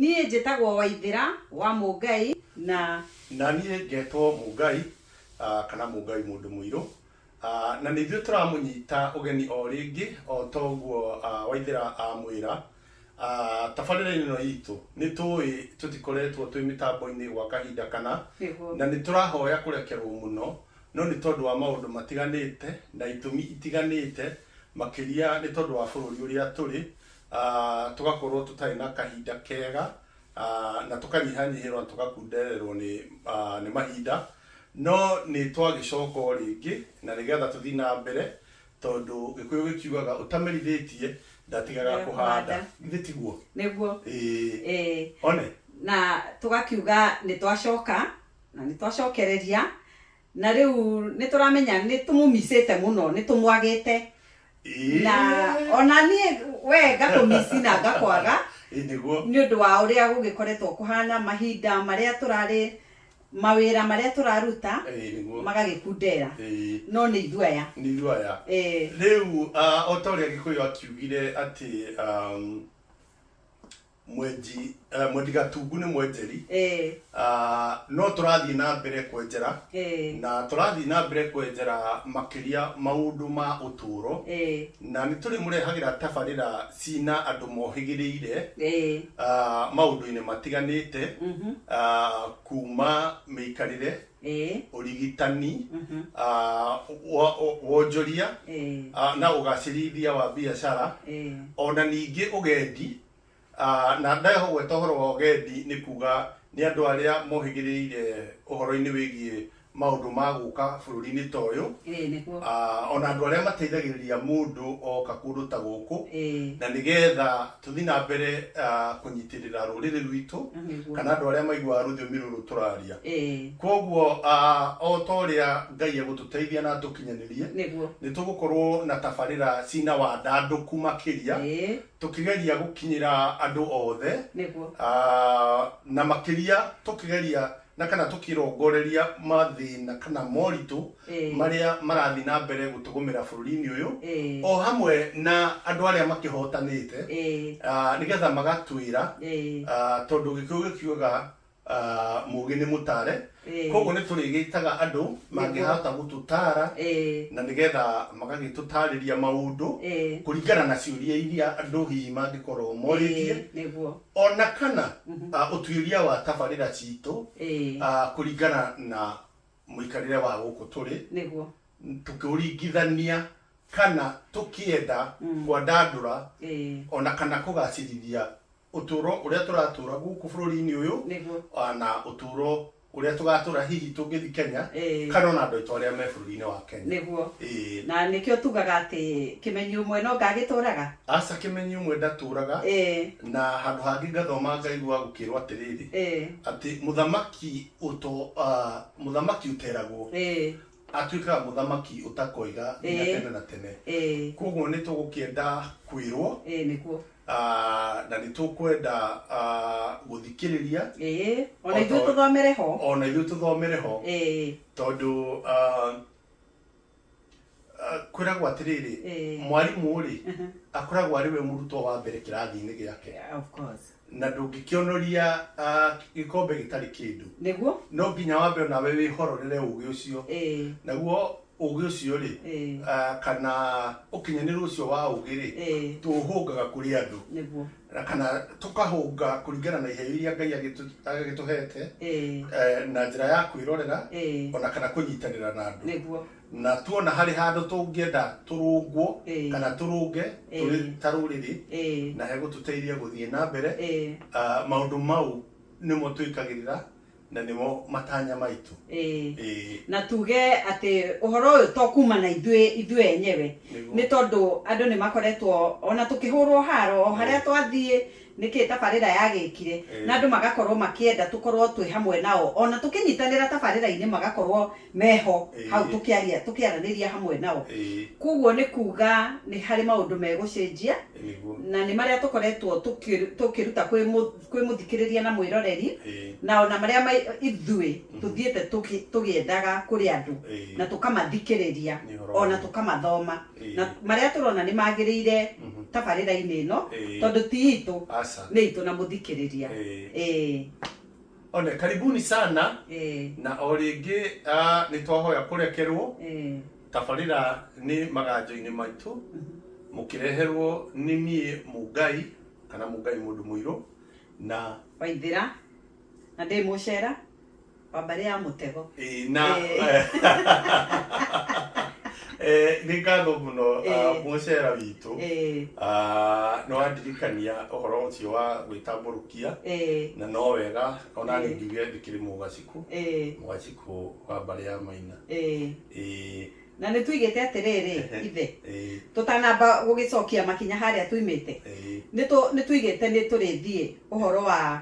Niĩ njĩtagwo Waithĩra wa Mũngai na. Na niĩ ngetwo Mũngai kana Mũngai mũndũ mũirũ. Na nĩ ithuĩ tũramũnyita ũgeni o rĩngĩ o ta ũguo Waithĩra amwĩra. Tabarĩra-inĩ ĩno itũ nĩ tũĩ tũtikoretwo twĩ mĩtambo-inĩ gwa kahinda kana. Nĩguo. Na nĩ tũrahoya kũrekerwo mũno no nĩ tondũ wa maũndũ matiganĩte na itũmi itiganĩte makĩria nĩ tondũ wa bũrũri ũrĩa tũrĩ ah, tũgakorwo tũtarĩ na kahinda kega ah, na tũkanyihanyihĩrwo na tũgakundererwo nĩ ah, nĩ mahinda no nĩ twagĩcoka o rĩngĩ na nĩgetha tũthiĩ na mbere tondũ gĩkũyũ gĩkiugaga ũtamenithĩtie ndatigaga Ndaga kũhanda kũhanda. githĩ tiguo nĩguo Ĩĩ. eh, one na tũgakiuga nĩ twacoka na nĩ twacokereria Na rĩu nĩtũramenya nĩtũmũmicĩte mũno nĩtũmwagĩte na ona niĩ we ngakũmici na ngakwaga Ĩ nĩguo. nĩ ũndũ wa ũrĩa gũgĩkoretwo kũhana mahinda marĩa tũrarĩ mawĩra marĩa tũraruta Ĩ nĩguo. magagĩkundera Ĩ. no nĩ ithuaya Nĩ ithuaya. Ĩ. Rĩu ah, o ta ũrĩa Gĩkũyũ akiugire atĩ um, mwenji eh, mwendi gatungu nĩ mwenjeri eh, Ah, no tũrathiĩ na mbere kwenjera eh, na tũrathiĩ na mbere kwenjera makĩria maũndũ ma ũtũũro eh, na nĩ tũrĩ mũrehagĩra tabarĩra cina andũ mohĩgĩrĩire eh, ah, maũndũ-inĩ matiganĩte mhm, ah, kuma mĩikarĩre ĩĩ ũrigitani mhm, ah, wa- wa- wonjoria ĩĩ ah, na ũgacĩrithia wa biacara ĩĩ ona ningĩ ũgendi ah, na ndahogweta ũhoro wa ũgendi nĩ kuga nĩ andũ arĩa mohĩgĩrĩire ũhoro-inĩ wĩgiĩ maũndũ ma gũka bũrũri-inĩ ta ũyũ ĩĩ nĩguo Ah, ona andũ arĩa mateithagĩrĩria mũndũ oka kũndũ ta gũkũ ĩĩ na nĩgetha Tũthiĩ na mbere kũnyitĩrĩra rũrĩrĩ rwitũ kana andũ arĩa maiguaga rũthiomi rũrũ tũraria. Kwoguo o ta ũrĩa Ngai egũtũteithia na atũkinyanĩrie, nĩ tũgũkorũo na tabarĩra ciĩ na wandandũku makĩria, tũkĩgeria gũkinyĩra andũ othe, na makĩria tũkĩgeria na kana tũkĩrongoreria mathĩna kana moritũ Ĩĩ. marĩa marathiĩ na mbere gũtũgũmĩra bũrũri-inĩ ũyũ Ĩĩ. o hamwe na andũ arĩa makĩhotanĩte Ĩĩ. ah, nĩgetha magatwĩra Ĩĩ. ah, tondũ gĩkĩũ gĩkiugaga ah, mũgĩ nĩ mũtare Ĩĩ. koguo nĩ tũrĩgĩtaga andũ mangĩhota gũtũtara Ĩĩ. na nĩgetha magagĩtũtarĩria maũndũ Ĩĩ. kũringana na ciũria iria andũ hihi mangĩkorwo morĩtie Ĩĩ, nĩguo ona kana ah, ũtuĩria wa tabarĩra citũ Ĩĩ. ah, kũringana na mũikarĩre wa gũkũ tũrĩ nĩguo tũkĩũringithania kana tũkĩenda kwandandũra Ĩĩ. ona kana kũgacĩrithia ũtũro ũrĩa tũratũra gũkũ bũrũri-inĩ ũyũ nĩguo ah, na ũtũro ũrĩa tũgatũra hihi tũngĩthi Kenya Ĩĩ. kana ona andũ aitũ arĩa me bũrũri-inĩ wa Kenya. nĩguo Ĩĩ. na nĩkĩo tugaga atĩ kĩmenyi ũmwe no ngagĩtũraga Aca kĩmenyi ũmwe ndatũraga Ĩĩ. na handũ hangĩ ngathoma ngaigua gũkĩrwo atĩrĩrĩ Ĩĩ. atĩ mũthamaki ũto ah, mũthamaki ũteragwo Ĩĩ. atuĩkaga mũthamaki ũtakoiga nginya Ĩĩ. tene na tene Ĩĩ. koguo nĩ tũgũkĩenda kwĩrwo Ĩĩ, nĩguo Ah, na nĩ tũkwenda ah, gũthikĩrĩria ĩĩ ona Ota- ithuĩ tũthomere ho o na ithuĩ tũthomere ho ĩĩ tondũ ah, ah, kwĩragwo atĩrĩrĩ Eh. mwarimũ-rĩ akoragwo arĩ we mũrutwo wa mbere kĩrathi-inĩ gĩake Yeah, of course na ndũngĩkĩonoria ah, gĩkombe gĩtarĩ kĩndũ nĩguo no nginya wambe onawe wĩhororere ũgĩ ũcio ĩĩ naguo Ũũgĩ ũcio-rĩ, kana ũkinyanĩru ũcio wa ũũgĩ-rĩ, tũũhũngaga kũrĩ andũ, na kana tũkahũnga kũringana na iheo iria Ngai agĩtũhete, na njĩra ya kwĩrorera, o na kana kũnyitanĩra na andũ. Na tuona harĩ handũ tũngĩenda tũrũngwo, kana tũrũnge tũrĩ ta rũrĩrĩ, na hegũtũteithia gũthiĩ na mbere, maũndũ mau nĩmo twĩkagĩrĩra Na nĩmo matanya maitũ. Ĩĩ. Ĩĩ. Na tuge atĩ ũhoro ũyũ to kuuma na ithuĩ ithuĩ enyewe. Nĩguo. Nĩ tondũ andũ nĩ makoretwo o na tũkĩhũrwo haro o harĩa twathiĩ, nĩ kĩĩ tabarĩra yagĩkire. Ĩĩ. Na andũ magakorwo makĩenda tũkorwo twĩ hamwe nao. O na tũkĩnyitanĩra tabarĩra-inĩ magakorwo meho Ĩĩ. hau tũkĩaria tũkĩaranĩria hamwe nao. Ĩĩ. Kwoguo nĩ kuuga nĩ harĩ maũndũ megũcenjia. Nĩguo. Na nĩ marĩa tũkoretwo tũkĩruta kwĩ kwĩ mũthikĩrĩria na mwĩroreri, Ĩĩ. na o na marĩa ma, ithuĩ tũthiĩte tũkĩ, tũgĩendaga kũrĩ andũ, Ĩĩ. na tũkamathikĩrĩria, Nĩ ũhoro o na wa- tũkamathoma, Ĩĩ. na marĩa tũrona nĩ magĩrĩire tabarĩra-inĩ ĩno, Ĩĩ. tondũ ti itũ, Aca. nĩ itũ na mũthikĩrĩria. Ĩĩ. Ĩĩ. One, karibuni sana Ĩĩ. na o rĩngĩ ah, nĩ twahoya kũrekerwo Ĩĩ. tabarĩra nĩ maganjo-inĩ maitũ mũkĩreherwo nĩ niĩ mũngai kana mũngai mũndũ mũirũ na waithira na ndä må cera wa mbarä ya må tego eh, na Eh. eh, nĩ ngatho mũno ah, Eh. mũcera witũ Ĩĩ, Ah, nĩ wandirikania ũhoro ũcio wa gwĩtambũrũkia ĩĩ, na no wega ona Eh. ngiuge ndĩkĩrĩ mũgaciku ĩĩ, mũgaciku wa mbarĩ ya maina ĩĩ. Ĩĩ, Na nĩ tuigĩte atĩrĩrĩ, ithe, tũtanamba gũgĩcokia makinya harĩa tuimĩte, nĩ tuigĩte nĩ tũrĩthiĩ ũhoro wa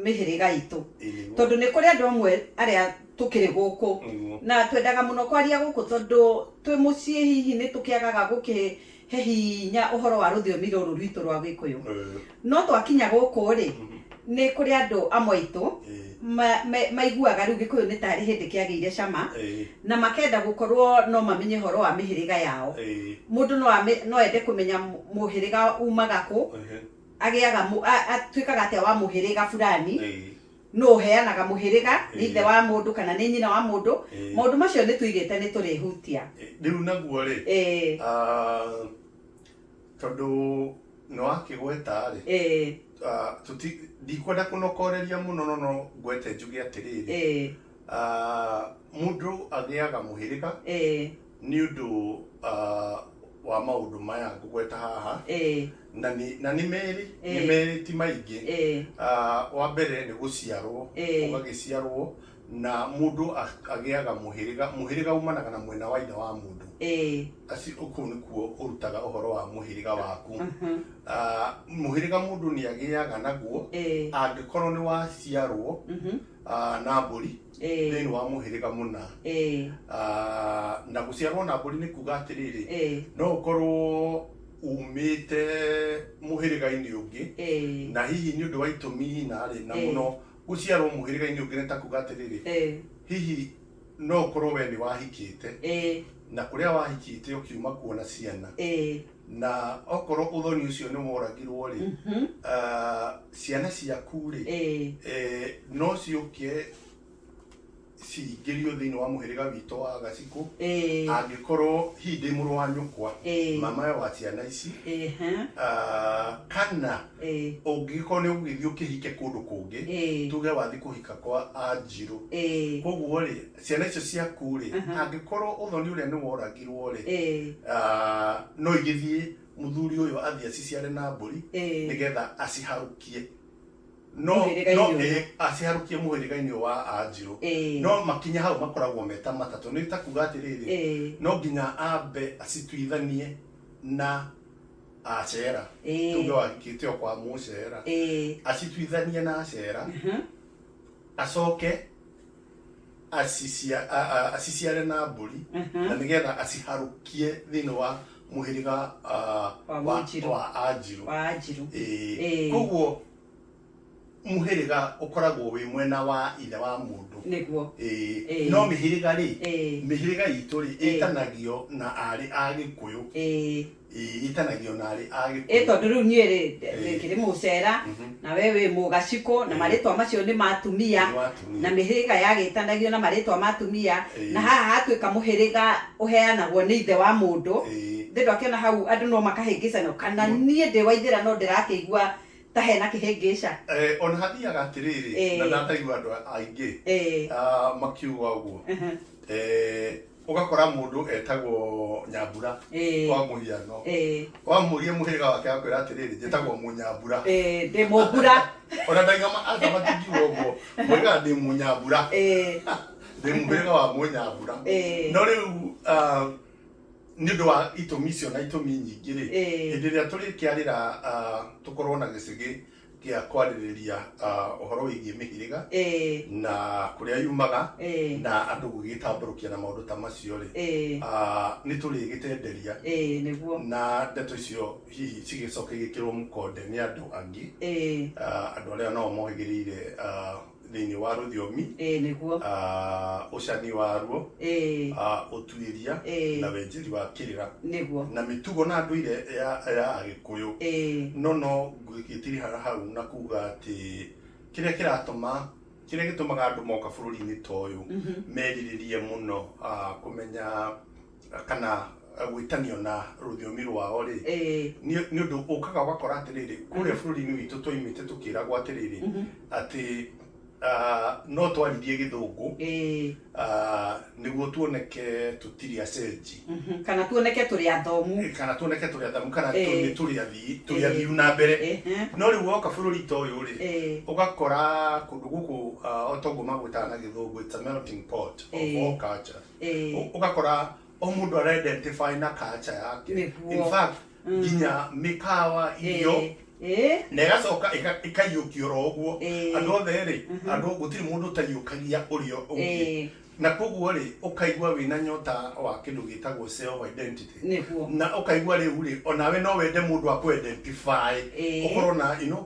mĩhĩrĩga itũ, tondũ nĩ kũrĩ andũ amwe arĩa tũkĩrĩ gũkũ, na twendaga mũno kwaria gũkũ, tondũ twĩ mũciĩ hihi nĩ tũkĩagaga gũkĩ He hinya ũhoro wa rũthiomi rũrũ rwitũ rwa Gĩkũyũ. No twakinya gũkũ-rĩ, nĩ kũrĩ andũ amwe aitũ maiguaga rĩu Gĩkũyũ nĩ tarĩ hĩndĩ kĩagĩire cama na makenda gũkorwo no mamenye ũhoro wa mĩhĩrĩga yao. Mũndũ no ende kũmenya mũhĩrĩga umaga kũ, atuĩkaga atĩa wa mũhĩrĩga fulani. nũ ũheanaga mũhĩrĩga nĩ Ĩĩ. ithe wa mũndũ kana nĩ nyina wa mũndũ Ĩĩ. maũndũ macio nĩ tũigĩte nĩ tũrĩhutia rĩu naguo rĩ Ĩĩ, ah, tondũ nĩ wakĩgweta rĩ ĩĩ, ah, tũti- ndikwenda kũnokoreria mũno no no ngwete njuge atĩrĩrĩ ĩĩ, ah, mũndũ agĩaga mũhĩrĩga ĩĩ. Nĩ ũndũ wa maũndũ maya ngũgweta haha, na nĩ merĩ, nĩ merĩ ti maingĩ. Wa mbere nĩ gũciarwo, ũgagĩciarwo na mũndũ agĩaga mũhĩrĩga, mũhĩrĩga umanaga na mwena wa ithe wa mũndũ, kũu nĩkuo ũrutaga ũhoro wa mũhĩrĩga waku. Mũhĩrĩga mũndũ nĩ agĩaga naguo angĩkorwo nĩ waciarwo na mbũri, Ĩĩ. thĩinĩ wa mũhĩrĩga mũna Ĩĩ. Ah, na gũciarwo na mbũri nĩ kuga atĩrĩrĩ Ĩĩ. no ũkorwo umĩte mũhĩrĩga-inĩ ũngĩ Ĩĩ. na hihi nĩ ũndũ wa itũmi hi na rĩ na Ĩĩ. mũno gũciarwo mũhĩrĩga-inĩ ũngĩ nĩ ta kuga atĩrĩrĩ Ĩĩ. hihi no ũkorwo we nĩ wahikĩte Ĩĩ. na kũrĩa wahikĩte ũkiuma kuo na ciana Ĩĩ. na okorwo ũthoni ũcio nĩ woragirwo rĩ Mhm. ah, ciana ciaku rĩ Eh, eh, no ciũke cingĩrio thĩinĩ wa mũhĩrĩga witũ wa gacikũ eh, angĩkorwo hihi ndĩ mũrũ wa nyũkwa eh, mamawe wa ciana ici eh, ha, ah, kana eh, ũngĩgĩkorwo nĩ ũgũgĩthiĩ ũkĩhike kũndũ kũngĩ eh, tuge wathiĩ kũhika kwa anjirũ eh, koguo rĩ Ciana icio ciaku-rĩ, angĩkorwo ũthoni ũrĩa nĩ woragirwo-rĩ, no igĩthiĩ mũthuri ũyũ athiĩ aciciare na mbũri nĩgetha aciharũkie, no aciharũkie mũhĩrĩga-inĩ ũyũ wa Anjirũ. No makinya hau makoragwo me ta matatũ. Nĩ ta kuga atĩrĩrĩ, no nginya ambe acituithanie na Acera, tuge wahikĩte o kwa Mũcera, acituithanie na Acera, acoke... acicia, a, a, aciciare na mbũri Aha. na nĩgetha aciharũkie thĩinĩ wa mũhĩrĩga ah, Wa Wanjirũ. wa anjirũ wa anjirũ Ĩĩ. Ĩĩ. koguo mũhĩrĩga ũkoragwo wĩ mwena wa ithe wa mũndũ nĩguo Ĩĩ. Ĩĩ. no mĩhĩrĩga rĩ Ĩĩ. mĩhĩrĩga itũ rĩ Ĩĩ. ĩtanagio na arĩ a gĩkũyũ Ĩĩ. Ĩĩ, ĩtanagio na arĩ a ĩ gĩkuũ. tondũ rĩu niĩ rĩ Ĩĩ. rĩngĩrĩ mũcera Mhm. na we wĩ mũgacikũ na Ĩĩ. marĩtwa macio nĩ ma atumia Nĩ wa atumia. na mĩhĩrĩga yagĩtanagio na marĩtwa ma atumia Ĩĩ. na haha hatuĩka mũhĩrĩga ũheanagwo nĩ ithe wa mũndũ Ĩĩ. ndĩndũ akĩona hau andũ no makahĩngĩcanio kana Mũ- niĩ ndĩ waithĩra no ndĩrakĩigua ta hena kĩhĩngĩca Eh, ona hathiaga atĩrĩrĩ Ĩĩ. na ndataigua andũ aingĩ Ĩĩ. ah, makiuga ũguo Ehe. Eh, ũgakora mũndũ etagwo nyambura Eh. kwa mũhiano Eh, wamũria mũhĩrĩga wake akwĩra atĩrĩrĩ njĩtagwo mũnyambura eh, ndĩ mũmbura ona ndaigama atamatingiwo ũguo mũhĩrĩga ndĩ mũnyambura Eh, ndĩ mũhĩrĩga wa mũnyambura Eh. no rĩu ah, nĩ ũndũ wa itũmi icio na itũmi nyingĩ rĩ Eh. hĩndĩ ĩrĩa tũrĩkĩarĩra ah, tũkorwo na gĩcigĩ gĩa kwarĩrĩria uh, ũhoro wĩgiĩ mĩhĩrĩga eh, na kũrĩa yumaga eh, na andũ gũgĩtambũrũkia na maũndũ ta macio rĩ eh, uh, nĩ tũrĩgĩtenderia eh, nĩguo na ndeto icio hihi cigĩcoke igĩkĩrwo mũkonde nĩ andũ angĩ eh, uh, andũ arĩa nao mohĩgĩrĩire uh, thĩinĩ wa rũthiomi ĩĩ nĩguo ah, ũcani waruo ĩĩ ah, ũtuĩria Ĩĩ. na wenjeri wa kĩrĩra nĩguo na mĩtugo na ndũire ya ya agĩkũyũ ĩĩ no no ngĩtirihara hau na kuga atĩ kĩrĩa kĩratũma kĩrĩa gĩtũmaga andũ moka bũrũri-inĩ ta ũyũ merirĩrie mũno ah, kũmenya kana gwĩtanio na rũthiomi rwao rĩ nĩ ũndũ ũkaga ũgakora atĩrĩrĩ kũrĩa bũrũri-inĩ witũ twaimĩte tũkĩragwo atĩrĩrĩ atĩ no twaririe gĩthũngũ nĩguo tuoneke tũtirĩ acenji kana tuoneke tũrĩ athomu kana tuoneke tũrĩ athomu kana tũrĩ tũrĩ athii tũrĩ athiu na mbere no rĩu woka bũrũri ta ũyũ rĩ ũgakora kũndũ gũkũ o toguo magwĩtaga na gĩthũngũ it's a melting pot of all cultures Eh, Ũ- ũgakora o mũndũ araidentify na kacha yake Nĩguo. In fact, Mm. nginya mĩkawa irio eh, eh, na ĩgacoka ĩga- ĩkaiyũkio ro ũguo Eh. andũ othe rĩ Mhm. andũ gũtirĩ mũndũ ũtaiyũkagia ũrĩa ũngĩ eh, na koguo rĩ ũkaigua wĩna nyota wa kĩndũ gĩtagwo self identity nĩguo na ũkaigua rĩu rĩ onawe no wende mũndũ akũidentify Eh. ũkorwo na you know,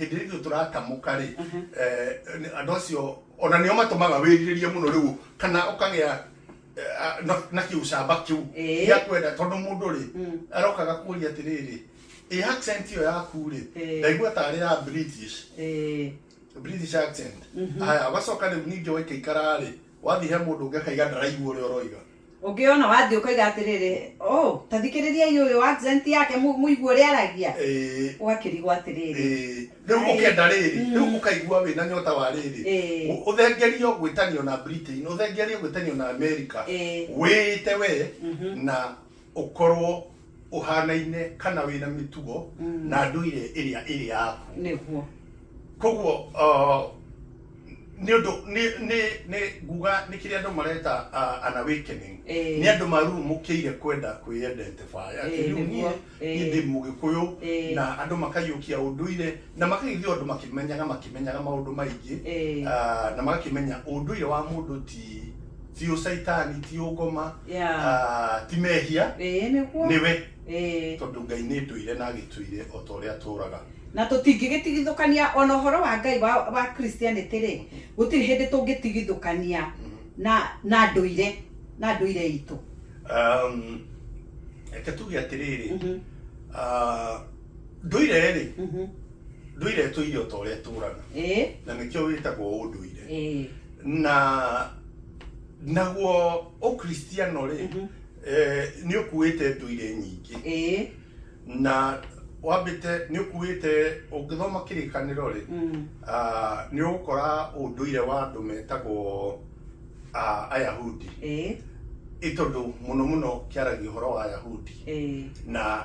hĩndĩ ĩrĩa ithuĩ tũratamũka rĩ eh, nĩ- andũ acio ona nĩo matũmaga wĩrirĩrie mũno rĩu kana ũkagĩa eh, a- na- na kĩũcamba kĩu Ĩĩ. gĩa kwenda tondũ mũndũ rĩ arokaga kuoria atĩrĩrĩ ĩ accent ĩyo yaku rĩ Ĩĩ. ndaigua tarĩ ya british Eh, british accent haya ũgacoka rĩu ningĩ waikaikara rĩ wathiĩ he mũndũ ũngĩ akaiga ndaraigua ũrĩa ũroiga Ũngĩona wathiĩ ũkoiga atĩrĩrĩ, ũũ, ta thikĩrĩriai ũyũ accent yake mũ- mũigue ũrĩa aragia. Ĩĩ. Ũgakĩrigwo atĩrĩrĩ. Ĩĩ. Rĩu Ai. ũkenda rĩrĩ, Mm. rĩu ũkaigua wĩna nyota wa rĩrĩ. Ĩĩ. Ũ- Ũthengerio gwĩtanio na Britain, ũthengerio gwĩtanio na America. Ĩĩ. Wĩĩte wee Mhm. na ũkorwo ũhaanaine kana wĩ na mĩtugo na ndũire ĩrĩa ĩrĩ yaku nĩguo koguo uh, nĩ ũndũ nĩ- nĩ- nĩ nguga nĩ kĩrĩa andũ mareta uh, an awakening Ĩĩ. nĩ andũ marurumũkĩire kwenda kwĩidentify atĩ Ĩĩ, rĩu niĩ nĩguo. niĩ Ĩĩ. ndĩ mũgĩkũyũ Ĩĩ. na andũ makaiyũkia ũndũire na makagĩthiĩ andũ makĩmenyaga makĩmenyaga maũndũ maingĩ Ĩĩ. Ah, na magakĩmenya ũndũire wa mũndũ ti ti ũcaitani ti ũngoma Yeah. ah, ti mehia ĩĩ nĩguo nĩwe Ĩĩ. tondũ ngai nĩ ndũire na agĩtũire o ta ũrĩa atũraga na tũtingĩgĩtigithũkania ona ũhoro wa ngai wa, wa christianity rĩ gũtirĩ hĩndĩ tũngĩtigithũkania na na ndũire na ndũire itũ Um, reke tuge atĩrĩrĩ Mhm, ah, ndũire rĩ mhm. Ndũire tũire o ta ũrĩa tũũraga ĩĩ na nĩkĩo wĩtagwo ũndũire ĩĩ na naguo ũkristiano rĩ Mhm. eh, nĩ ũkuĩte ndũire nyingĩ ĩĩ na wambĩte nĩ ũkuĩte ũngĩthoma kĩrĩkanĩro rĩ Mm. ah, nĩ ũgũkora ũndũire wa andũ metagwo ah, ayahudi ĩĩ ĩ tondũ mũno mũno kĩaragia ũhoro wa ayahudi ĩĩ na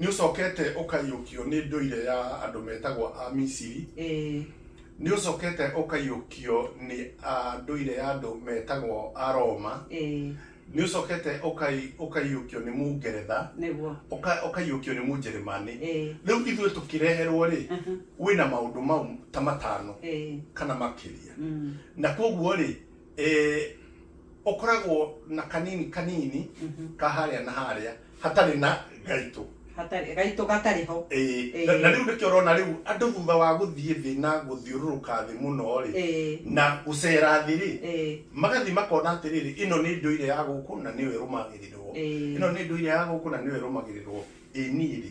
nĩ ũcokete ũkaiyũkio nĩ ndũire ya andũ metagwo a misiri ĩĩ nĩ ũcokete ũkaiyũkio nĩ ah, ndũire ya andũ metagwo a roma ĩĩ nĩ ũcokete ũkai- ũkaiyũkio nĩ mũngeretha nĩguo ũka- ũkaiyũkio nĩ mũnjeremani ĩĩ rĩu ithuĩ tũkĩreherwo rĩ wĩna maũndũ mau ta matano ĩĩ kana makĩria Mm. na koguo rĩ eh, ũkoragwo na kanini kanini ka harĩa na harĩa hatarĩ na gaitũ hatarĩ gaitũ gatarĩ ho Eh, Eh. na na rĩu nĩkĩo ũrona rĩu andũ thutha wa gũthiĩ thĩ na gũthiũrũrũka thĩ mũno rĩ Eh. na gũcera thĩ rĩ Eh. magathiĩ makona atĩrĩrĩ ĩno nĩ ndũire ya gũkũ na nĩyo ĩrũmagĩrĩrwo Eh. ĩno nĩ ndũire ya gũkũ na nĩyo ĩrũmagĩrĩrwo ĩ niĩ rĩ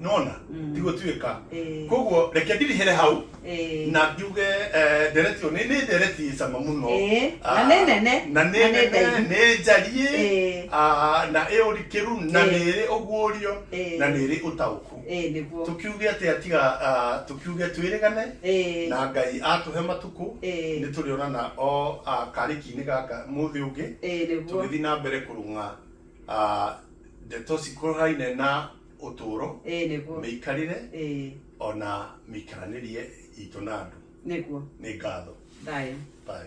nona Mm. tigũtuĩka Eh. koguo reke ndirihere hau Eh. na njuge eh, ndereti ĩyo nĩ nĩ ndereti ĩ cama mũno Eh, Ah, na nĩ nene, na na nĩ nĩ nene ndaihu. nĩ njariĩ Eh. ah, na ĩ ũrikĩru na Eh. nĩ ĩrĩ ũguũrio Eh. na nĩ ĩrĩ ũtaũku Eh, nĩguo tukiuge atĩ atiga ah, tukiuge twĩrĩgane Eh. na ngai atũhe matukũ Eh. nĩ tũrĩonana o ah, karĩki-inĩ gaka mũthĩ ũngĩ Eh, nĩguo tũgĩthiĩ na mbere kũrũng'a ah, Ndeto cikuruhanaine na ũtũũro, ĩĩ nĩguo mĩikarĩre, ĩĩ o na mĩikaranĩrie itũ na andũ. nĩguo Nĩ ngatho. Thayũ. Thayũ.